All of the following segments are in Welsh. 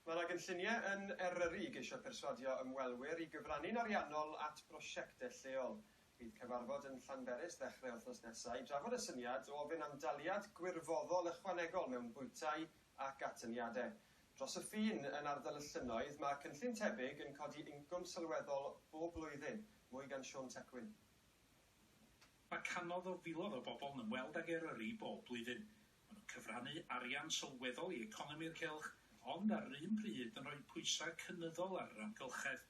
Mae yna gynlluniau yn Eryri i geisio perswadio ymwelwyr i gyfrannu'n ariannol at brosiectau lleol. Bydd cyfarfod yn Llanberis ddechrau wythnos nesaf i drafod y syniad o ofyn am daliad gwirfoddol ychwanegol mewn bwytai ac atyniadau. Dros y ffin, yn ardal y llynnoedd, mae cynllun tebyg yn codi incwm sylweddol bob blwyddyn. Mwy gan Siôn Tecwyn. Mae cannoedd o filoedd o bobl yn ymweld ag Eryri bob blwyddyn. Maen nhw'n cyfrannu arian sylweddol i economi'r cylch, ond ar yr un pryd yn rhoi pwysau cynyddol ar yr amgylchedd.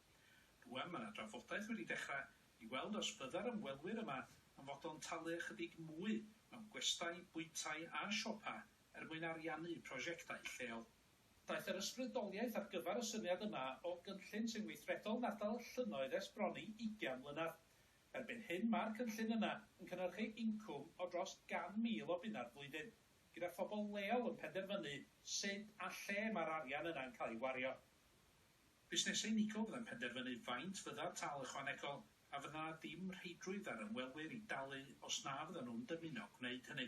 Rŵan mae 'na drafodaeth wedi dechrau i weld os fydda'r ymwelwyr yma yn fodlon talu ychydig mwy mewn gwestai, bwytai a siopau er mwyn ariannu prosiectau lleol. Daeth yr ysbrydoliaeth ar gyfer y syniad yma o gynllun sy'n weithredol yn ardal y llynnoedd ers bron i ugain mlynedd. Erbyn hyn mae'r cynllun yna yn cynhyrchu incwm o dros 100,000 o bunnau flwyddyn, gyda phobl leol yn penderfynu sut a lle mae'r arian yna'n cael ei wario. Busnesau unigol fyddai'n penderfynu faint fydda'r tâl ychwanegol, a fydd 'na ddim rheidrwydd ar ymwelwyr i dalu os na fyddan nhw'n dymuno gwneud hynny.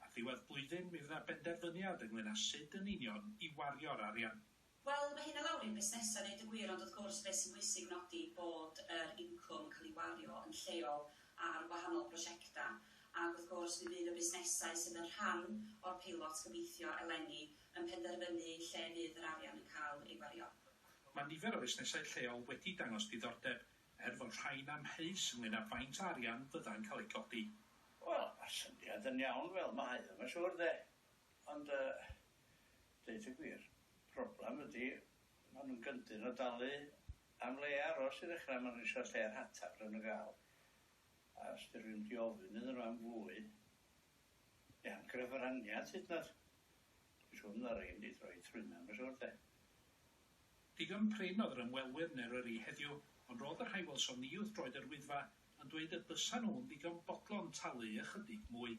Ar ddiwedd blwyddyn mi fydd 'na benderfyniad ynglŷn â sut yn union i wario'r arian. Wel, mae hyn o lawr i'n busnesau i ddeud y gwir, ond wrth gwrs beth sy'n bwysig nodi bod yr incwm yn cael ei wario yn lleol ar wahanol brosiectau, ac wrth gwrs mi fydd y busnesau sydd yn rhan o'r peilot gobeithio eleni yn penderfynu lle fydd yr arian yn cael ei wario. Mae nifer o fusnesau lleol wedi dangos diddordeb, er fod rhai'n amheus ynglŷn â faint o arian fyddai'n cael ei godi. Wel, mae'r syniad yn iawn fel mae o, mae'n siŵr, de. Ond yy, Deud y gwir, problem ydi ma nhw'n gyndyn o dalu am le aros i ddechrau, ma nhw isio lle rhataf ble ma nhw'n gael a os di rhywun di ofyn iddyn nhw am fwy neu am grefyraniad hyd yn oed, dwi'n siŵr fydda rei yn mynd i droi trwyn na ma siŵr de. Digon prin oedd yr ymwelwyr yn Eryri heddiw, ond roedd y rhai welsom ni wrth droed yr Wyddfa yn dweud y bysa nhw'n ddigon bodlon talu ychydig mwy.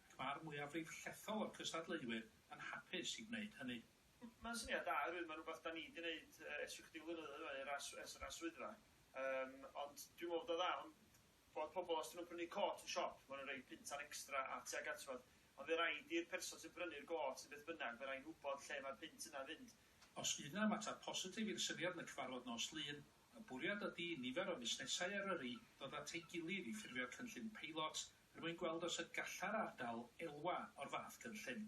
Mae'r mwyafrif llethol o'r cystadleuwyr yn hapus i wneud hynny. Mae'n syniad da oherwydd mae'n rhywbeth dan ni 'di neud ers rhyw chydig flynyddoedd rwan ers ers yr arswyddfa yym ond dwi'n meddwl bod o dda ond bod pobl os 'dyn nhw'n prynu côt yn siop maen nhw'n rhoi puntan extra a tuag at fod ond fe raid i'r person sy'n prynu'r gôt neu beth bynnag fe rai'n wybod lle mae'r punt yna'n fynd. Os fydd 'na ymateb positif i'r syniad yn y cyfarfod nos Lun, y bwriad ydi i nifer o fusnesau Eryri ddod at ei gilydd i ffurfio cynllun peilot Er mwyn gweld os y gallai'r ardal elwa o'r fath gynllun.